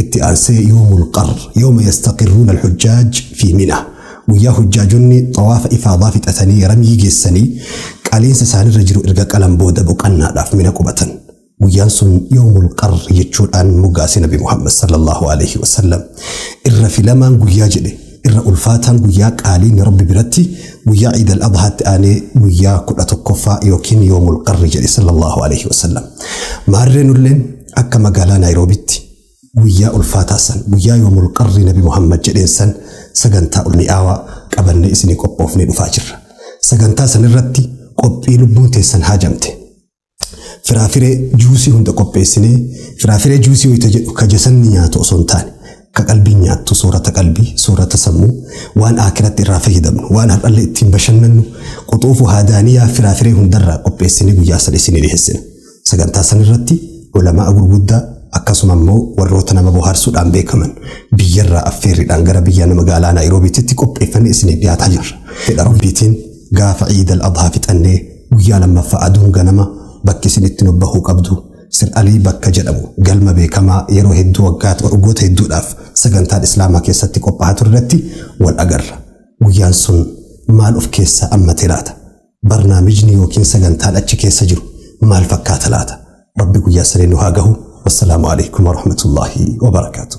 Itti aansee Yoomul Qarr, Yooma Yastaqirruuna Al-Hujjaaj Fii Mina, Guyyaa Hujjaajonni Xawaafa Ifaadaa fixatanii Ramyii geessanii qaliinsa isaanirra jiru erga qalan booda boqannaadhaaf Mina qubatan. Guyyaan sun Yoomul Qarr jechuudhaan moggaase Nabi Muhammad, Sallallaahu Aleyhi Wasallam. Irra filamaan guyyaa jedhe, irra ulfaataan guyyaa qaaliin Rabbi biratti guyyaa Iid Al-Adhaatti aanee guyyaa 11ffaa ykn Yoomul Qarr jedhe, Sallallaahu Aleyhi Wasallam. Maarree nulleen akka magaalaa Naayiroobitti guyyaa ulfaataa san guyyaa yoomul qarri nabi Muhammad jedheen san sagantaa ulmi'aawaa qabannee isinii qophoofnee dhufaa jirra. Sagantaa san irratti qophii lubbuun teessan haajamte. Firaafiree juusii hunda qopheessinee firaafiree juusii wayita jedhu ka jasanni nyaatu osoo hin taane ka qalbiin nyaattu soorata qalbii soorata sammuu waan akiratti irraa fayyadamnu waan har'allee ittiin bashannannu quxuufu haadaaniyaa firaafiree hundarraa qopheessinee guyyaa sana isinii dhiheessina. Sagantaa san irratti ulama'a gurguddaa akkasuma immoo warroota nama bohaarsuudhaan beekaman biyyarraa affeerriidhaan gara biyya nama magaalaa Naayiroobiititti qopheeffannee isiniif dhiyaataa jirra. Fedha Rabbiitiin gaafa Iid al-Adhaa fixannee guyyaa lammaffaa aduun ganama bakki isin itti nubbahuu qabdu Sir Alii bakka jedhamu galma beekamaa yeroo hedduu waggaatti waggoota hedduudhaaf sagantaan Islaamaa keessatti qophaa'aa turretti wal agarra. Guyyaan sun maal of keessaa ammatee laata? Barnaamijni yookiin sagantaan achi keessa jiru maal fakkaata laata? Rabbi guyyaa sanii nu haa gahu. Wassalaamu alaikum warahmatullaahi wabarakaatuh.